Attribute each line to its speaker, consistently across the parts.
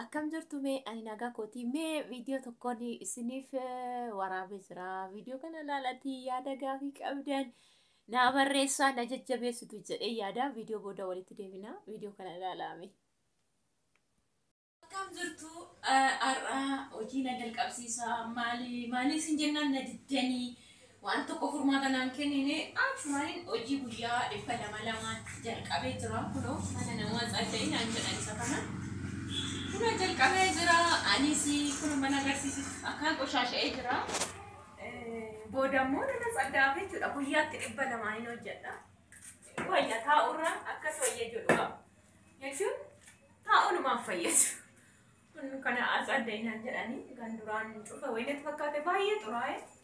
Speaker 1: Akkam jirtu mee ani nagaa kooti mee viidiyoo tokkoon isiniif waraabee jira viidiyoo kana ilaalatii yaada gaafii qabdan naa barreessaa na jajjabeessitu jedhee yaada viidiyoo booda walitti deebina viidiyoo kana ilaalaame. Akkam jirtu har'a hojii na jalqabsiisaa maali maaliif sin jennaan na diddanii Waan tokko furmaata naan kennine. Achumaanin hojii guyyaa dhibba lama lamaan jalqabee jira. Kunoo mana namaa tsadda'ii naan jedhan isa kana. Kunoo jalqabee jira. Anis kunoo mana agarsiisitti akkaan qoshaasha'ee jira. Booda immoo nana tsadda'aaf jechuudha. Guyyaatti dhibba lamaan hin hojjedha. Wayya taa'urra akkas wayya jedhu qaba. Jechuun taa'unumaaf fayyadu. Kun kana tsadda'ii naan jedhanii kan duraan cufa wayinatti fakkaate baay'ee xuraa'e.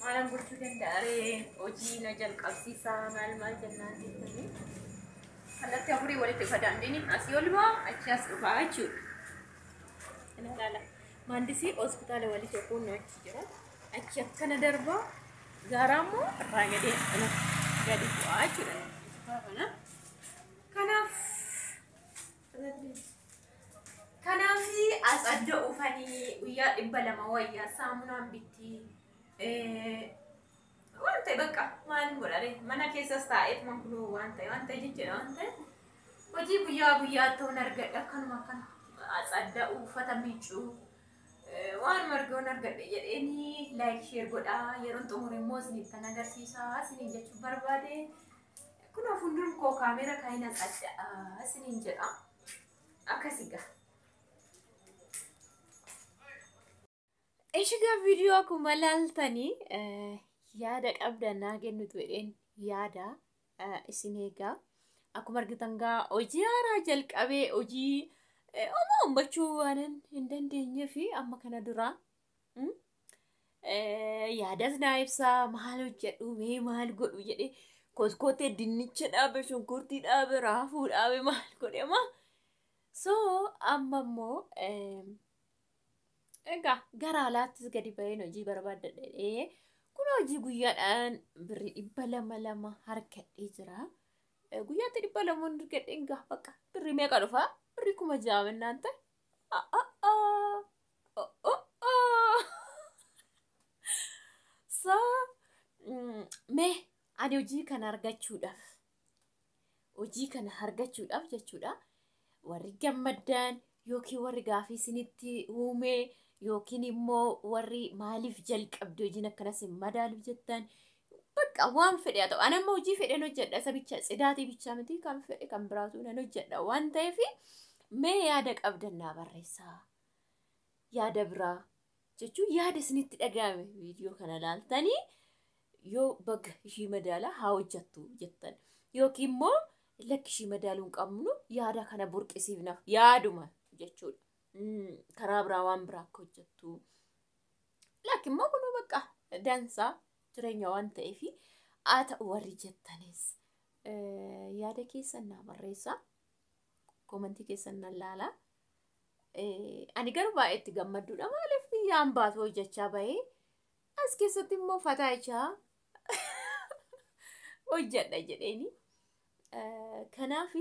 Speaker 1: Maalan gochuu danda'a ree hojii na jalqabsiisaa maal maal jennaan jettanii kallattii afurii walitti ufa daandiniin asii ol ba'a achi as dhufaa jechuudha. Kana ilaala. Maandisii hospitaala walii tokko nu achi jira. Achi akkana darba gaaraa immoo irraa gadee akkana gadi bu'aa jechuudha. Kana kanaaf Kanaaf as adda oofanii guyyaa dhibba lama wayyaa saamunaan bitti. Waan ta'e bakka maal godhare mana keessas taa'eef man kunoo waan ta'e waan ta'e jechuudha waan ta'e hojii guyyaa guyyaa ta'uun argadha akkanuma kan as adda uffata miicuu waan margoon argadhe jedheeni laayik sheer godhaa yeroon xumure immoo isiniif kan agarsiisaa isiniin jechuu barbaade. Kunoo fuuldura koo kaameera kan hin haqadha isiniin jedha. Akkasi gaa. Ishigaa viidiyoo akkuma laaltanii yaada qabdan naa kennitu jedheen yaada isin eegaa. Akkuma argitan gaa hojii haaraa jalqabee hojii homaa ummachuu waan hin dandeenyee fi amma kana dura Mm? Eh, yaadas naa ibsaa maal hojjedhu mee maal godhu jedhee kotkotee dinnicha dhaabe shunkurtii dhaabe raafuu dhaabe maal godhe ma so amma immoo eh, egaa gara alaattis gadi ba'een hojii barbaadda jedhee kun hojii guyyaadhaan birrii dhibba lama lama harkadhee jira Eh, guyyaatti dhibba lama harkadhee egaa baqa birrii meeqa dhufa birrii kuma ja'a mennaan ta'e Mee ani hojii kana argachuudhaaf hojii kana argachuudhaaf jechuudha warri gammaddan yookiin warri gaafii isinitti uumee yookiin immoo warri maaliif jalqabde hojiin akkanas hin madaalu jettan Bakka waan fedhe haa ta'u. Ani amma hojii fedheen hojjedha. Isa bicha tsidaatii bichaa miti kan fedhe kan biraatu nan hojjedha waan ta'eef mee yaada qabdan naa barreessaa. Yaada biraa jechuun yaada isinitti dhaga'ame viidiyoo kana laaltanii yoo baga ishii madaala haa hojjettu jettan yookiin immoo lakki ishii madaaluu hin qabnu yaada kana burqisiifna yaaduma jechuudha. Mm, Karaa biraa waan biraa akka hojjettu Lakki immoo kunuu bakka dansaa jireenya waan ta'eef haa ta'u warri jettanis eh, yaada keessan naa barreessaa. Komantii keessan nan laalaa. Eh, Ani garuu baay'ee itti gammadduudha maaliif biyyaan baatu hojjechaa bahee as keessatti immoo fataa ijaa hojjedha jedheeni. Eh, Kanaaf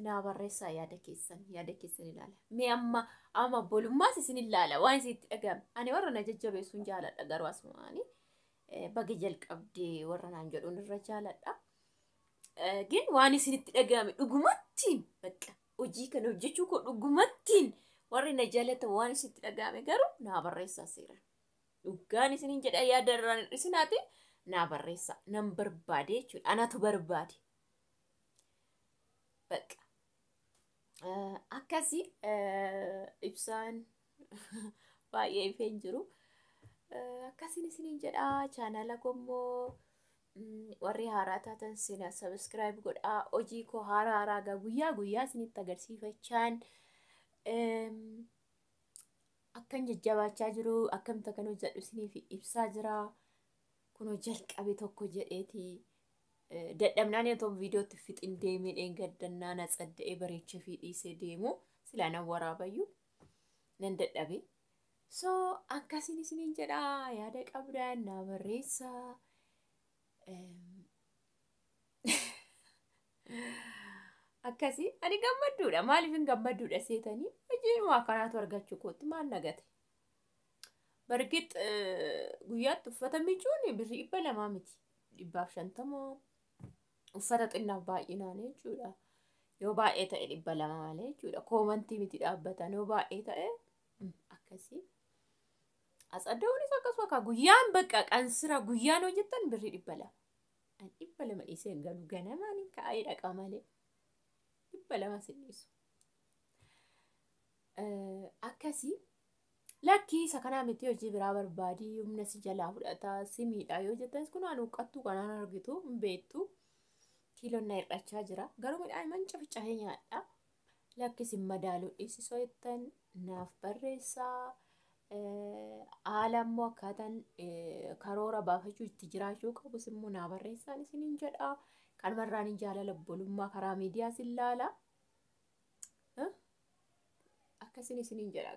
Speaker 1: naa barreessaa yaada keessan yaada keessan ilaala mee amma amma bolummaas isin ilaala waan isin itti dhaga'ame ani warra na jajjabeessuun jaaladha garuu asumaani baga jalqabdee warra naan jedhuun irra jaaladha gin waan isin itti dhaga'ame dhugumattiin bakka hojii kana hojjechuu koo dhugumattiin warri na jaalatan waan isin itti dhaga'ame garuu naa barreessaa seera dhugaan isinin jedha yaada irraan hir'isinaati naa barreessaa nan barbaade jechuudha anatu barbaade Bakka. Eh, Akkasi eh, ibsaan baay'ee ifee hin jiru. Eh, Akkasiin isiniin jedha chaanala kommoo mm, warri haaraa taatan sina sabiskiraayib godhaa hojii koo haaraa haaraa gaa guyyaa guyyaa isinitti agarsiifachaan em, akkan jajjabaachaa jiru akkamitti akkan hojjedhu isiniif ibsaa jira. kunoo jalqabe tokko jedheeti dadhabnaan otoo viidiyootti fixin deemee dheengaddannaa na tsadda'ee bareechee fi dhiisee deemu silaa nan waraabayyu nan dadhabe. So akkasiin isiniin jedhaa yaada qabdan naa barreessaa. Akkasii ani gammadduudha maaliif hin gammadduudha seetanii hojiinuma akkanaatu argachuu kootti maal nagate. Bargit guyyaatti uffata miicuun birrii dhibba lamaa miti. Dhibbaaf shantama uffata xinnaaf baay'inaan jechuudha. Yoo baay'ee ta'e dhibba lama malee jechuudha. Koomantii miti dhaabbatan yoo baay'ee ta'e mm, akkasii. Asadoonis akkasuma kaa guyyaan bakka qansira guyyaan hojjetan birrii dhibba lama. An dhibba lama dhiisee hin galu ganamaan hin ka'ee dhaqa malee. Dhibba lama sin dhiisu. Eh, Akkasii Lakkii isa kanaa miti hojii biraa barbaadii humna si jalaa fudhataa si miidhaa yoo jettas kun waan huqqattuu kanaan argitu hin beektu kiiloon na hir'achaa jira garuu midhaan man cafcafee nyaadha lakkis hin madaaluu dhiisisoo jettan naaf barreessaa haala immoo akkaataan karoora baafachuu itti jiraachuu qabus immoo naa barreessaan isin hin jedha kanumarraan hin jaalala obbolummaa karaa miidiyaa sin laala. akkasin isinin jedha